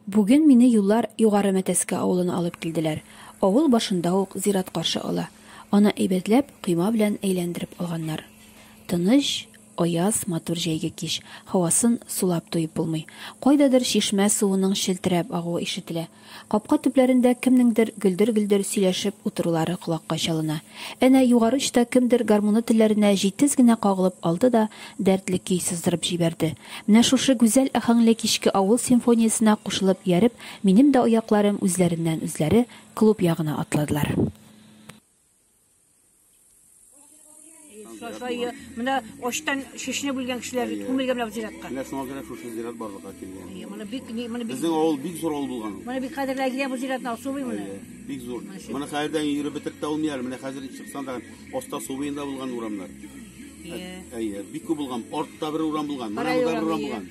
Бүген мине юллар Югары Мәтәскә авылына алып килделәр. Авыл башында ук зират каршы ала. Аны әйбәтләп, койма белән әйләндереп алганнар. Тыныч, аяз, матур җәйге кич. Һавасын сулап туеп булмый. Кайдадыр чишмә суының челтерәп агуы ишетелә. Капка төпләрендә кемнеңдер гөлдер-гөлдер сөйләшеп утырулары колакка чалына. Әнә югары очта кемдер гармуны телләренә җитез генә кагылып алды да дәртле көй сыздырып җибәрде. Менә шушы гүзәл аһәңле кичке авыл симфониясенә кушылып ияреп, минем дә аякларым үзләреннән-үзләре клуб ягына атладылар. Сафайы, менә очтан шешне бүлгән кешеләр күмелгән менә зиратка. Менә шуңа күрә шушы зират барлыкка килгән. Әйе, моны бик ни- моны бик Безнең авыл бик зур авыл булган. ул. моны бик кадерле Әгилә бу зиратны асубый моны. Әйе, Бик зур. Моны хәердән йөреп бетереп тә алмый әле. Менә хәзер чыксаң да аста су буенда булган урамнар. Әйе. Әйе, бик күп булган. Артта бер урам булган, менә Кара монда бер урам урам, булган.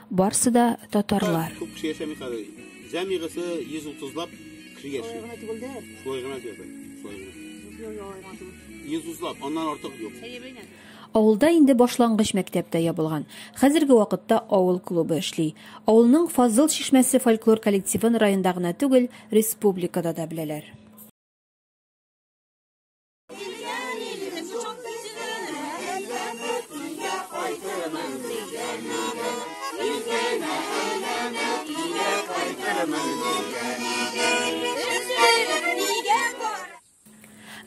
Барсы да татарлар. Күп кеше яшәми хәзер. Җәмигысе 130 лап кеше яши. Шулай гына түгелдә. Шулай гына түгел. Шулай гына. 130 лап, аннан артык юк. Авылда инде башлангыч мәктәп тә ябылган. Хәзерге вакытта авыл клубы эшли. Авылның Фазыл чишмәсе фольклор коллективын районда гына түгел, республикада да беләләр.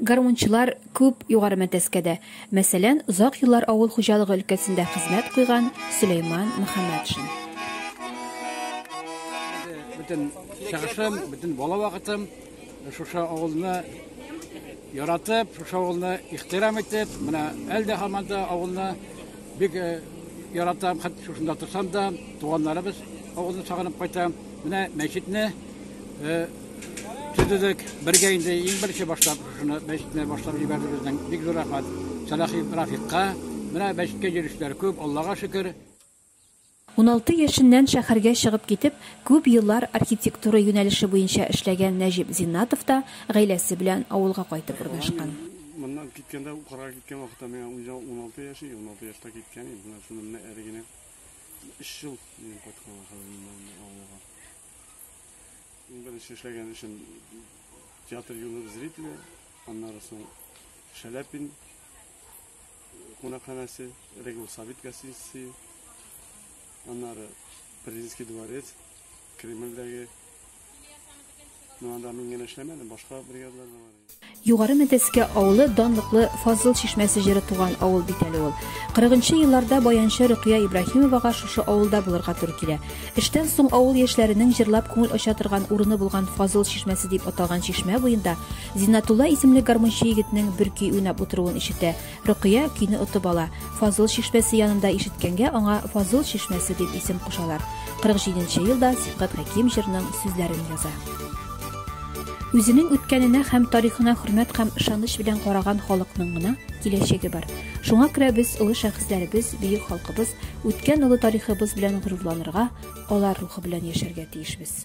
гармунчылар күп югары мәтәскәдә. Мәсәлән, озак еллар авыл хуҗалыгы өлкәсендә хезмәт куйган Сөләйман Мөхәммәтшин. Бүтән чагышым, бүтән бала вакытым Шушы авылны яратып, шушы авылны ихтирам итеп, менә әле дә һаман да авылны бик э, яратам, хәтта шушында торсам да, туганнарыбыз авылны сагынып кайтам. Менә мәчетне э, төзедек, бергә инде иң беренче башлап шуны мәчетне башлап җибәрде безнең. Бик зур рәхмәт Сәлахи Рафикка. Менә мәчеткә йөришләр күп, Аллага шөкер. Уналты яшеннән шәһәргә чыгып китеп, күп еллар архитектура юнәлеше буенча эшләгән Нәҗип Зиннатов та гаиләсе белән авылга кайтып урнашкан. Моннан киткәндә, укырга киткән вакытта миңа үзе уналты яшь иде, уналты яшьтә киткән иде. Менә шуны менә әле генә өч ел минем кайтканга хәзер моннан инде авылга. Иң беренче эшләгән эшем театр юлы зрителе, аннары соң Шәләпин, кунакханәсе, Регул Сабит гостиницы, аннары Президентский дворец, Кремльдәге. Ну, анда мин генә эшләмәдем, башка бригадалар да бар. Югары Мәтәскә авылы данлыклы Фазыл чишмәсе җыры туган авыл бит әле ул. 40 елларда баянчы Рөкыя Ибраһимовага шушы авылда булырга туры килә. Эштән соң авыл яшьләренең җырлап күңел ача торган урыны булган Фазыл чишмәсе дип аталган чишмә буенда Зиннатулла исемле гармунчы егетнең бер көй уйнап утыруын ишетә. Рөкыя көйне отып ала. Фазыл чишмәсе янында ишеткәнгә аңа Фазыл чишмәсе дип исем кушалар. 47 нче елда Сибгат Хәким җырның сүзләрен яза. Үзенең үткәненә һәм тарихына хөрмәт һәм ышаныч белән караган халыкның гына киләчәге бар. Шуңа күрә без олы шәхесләребез, бөек халкыбыз, үткән олы тарихыбыз белән горурланырга, алар рухы белән яшәргә тиешбез.